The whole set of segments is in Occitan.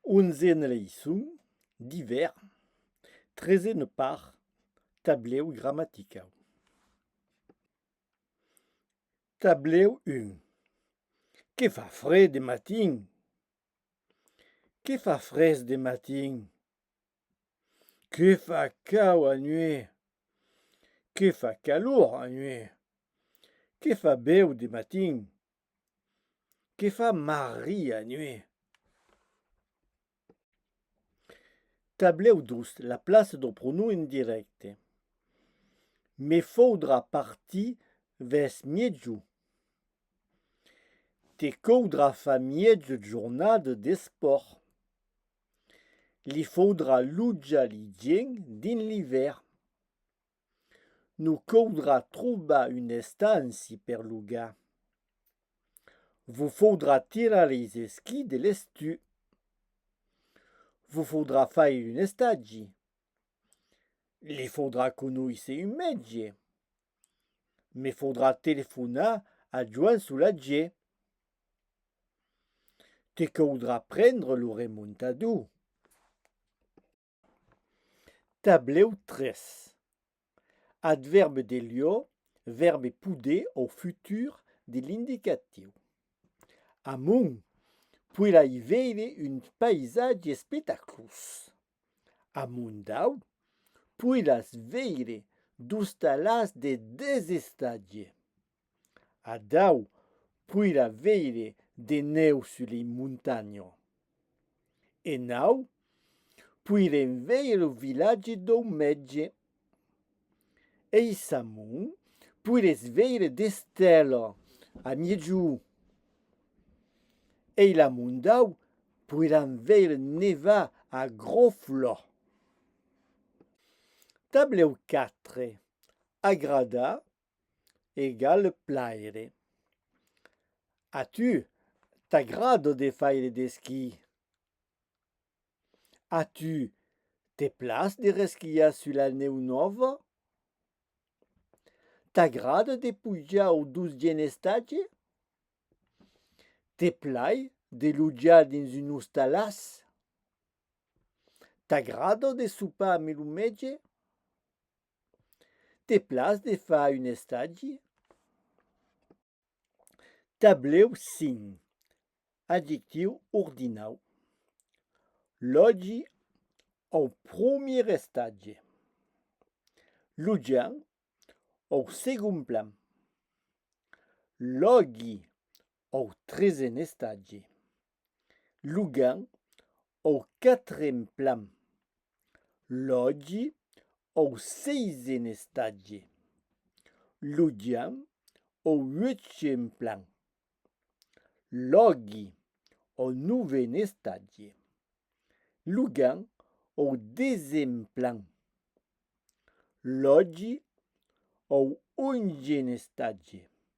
Onzene leiçon d'ivèr Trezene part Tablèu gramaticau Tablèu 1 Que fa fre de matin! Que fa frés de matin! Que fa cau a nuèit! Que fa calor a nuèit! Que fa bèu de matin! Que fa Maria nuet. Tablèu 2, la plaça do pronom indirècte. Me faudrà partir vès miègjou. Te caudrà far mièja jornada d'espòrt. Li faudrà lujar li gèngs dins l'ivèrn. Nos caudrà trobar un estanci per logar. Vos faudrà tirar es esquís de l'estiu. Vos faudrà faire un estagi. Li faudrà conoisser un mètge. Me faudrà telefonar a Joan Solatge. Te caudrà prendre lo remontador. Tablèu 3. Advèrb de lieu, vèrbe poder au futur de l'indicatiu. Amunt, poirai veire un paisatge espectaclós. Amunt dau, poiràs veire d'ostalas de desestatge. Adau poirà veire de nèu sus lei montanho. E nau poirem veire lo vilatge dou mètge. Ei s'amont poires veire d'estèla a miègjou. Ei la mondau poiram veire nevar a groflò. Tablèu 4, Agradar egal plaire. A tu t'agrada de faire d'esquí? A tu te place de resquiar sus la nèu nòva? T'agrada de pujar au dotzièm estatge? Te plai de lotjar dins un ostalàs? T'agrada de sopar amb lo mètge? Te plas de far un estagi? Tablèu 5, adjectiu ordinau, Lògi au promier estatge. Lujar au segond plan. Lògi Au tresen estatge. Lugan au quatren plan. Lògi au seisen estatge. Ludian au uechen plan. Lògi au noven estatge. Lugan au desen plan. Lògi au ongen estatge.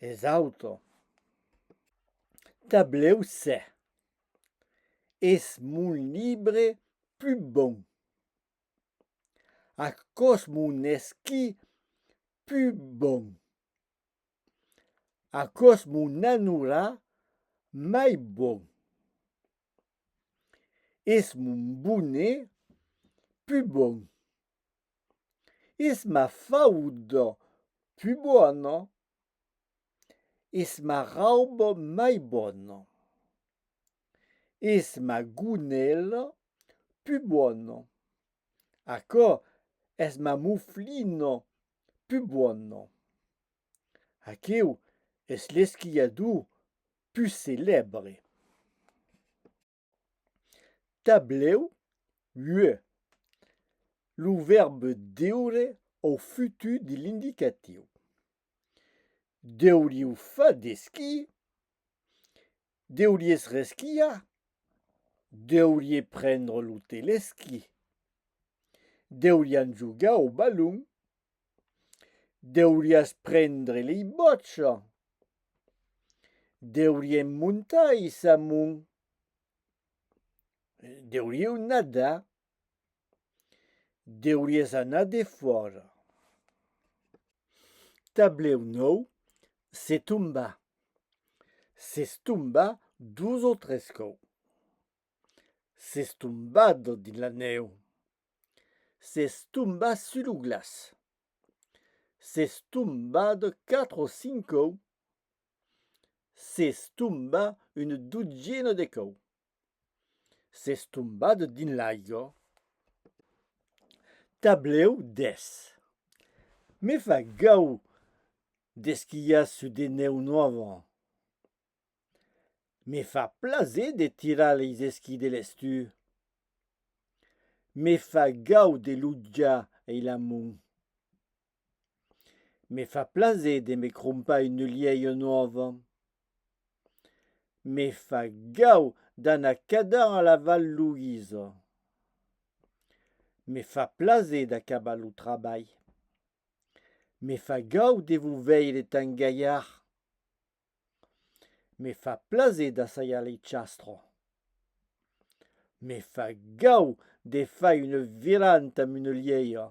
es auto tablèu se es mon libre pus bon aquò's mon esquí pus bon aquò's mon anura mai bon es mon bonnet pus bon es ma fauda pus bona, es ma rauba mai bona, es ma gonèla pus bona, aquò es ma moflina pus bona, aqueu es l'esquiador pus celèbre. Tablèu, ue, lo vèrbe deure au futur de l'indicatiu. Deuriu fa d'esquí, deuries resquiar, deurie prendre lo telesquí, deurián jogar au balon, Deuriás prendre lei bòcha. Deuriem montar ei samun. Deurieu nadar. Deuries anar defòra. Tablèu nòu, se tombar. S'es tombar dos o tres còu. S'es tombat dins la nèu. s'es tombat sus lo glaç s'es tombat quatre o cinc còu s'es tombat una dotzièna de còu s'es tombat dins l'aiga tablèu 10 me fa gaud d'esquiar sus de nèu nòva Me fa plaser de tirar leis esquís de l'estiu. Me fa gau de lotjar ei la mon. Me fa plaser de me crompar une lièia nòva. Me fa gau d'anar cadar a la Val Louise. Me fa plaser d'acabar lo trabalh. Me fa gau de vos veire tan gailhard. Me fa plaser d'assajar lei chastro. Me fa gau de fai una viranta amb una lièira.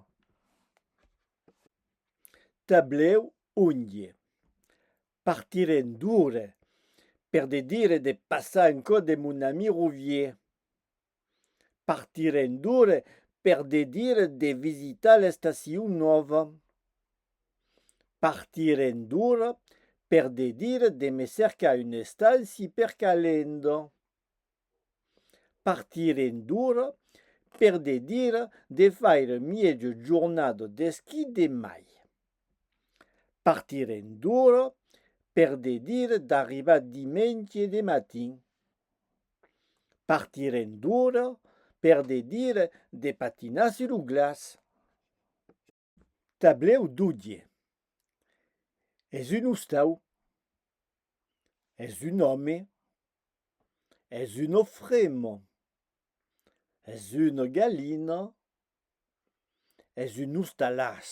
Tablèu onje partirem d'ora per de dire de passar en cò de mon ami Rovier. Partirem d'ora per de dire de visitar l'estacion nòva. Partirem d'ora per de dire de me cercar un estanci per calenda. Partirem d'ora per de dire de faire mièja jornada d'esquí demai. Partirem d'ora per de dire d'arribar dimenge de matin. Partirem d'ora per de dire de patinar sur lo glaç. Tablèu d'Oudie. Es un ostau. Es un òme. Es un ofremo. Es una galina. Es un ostalàs.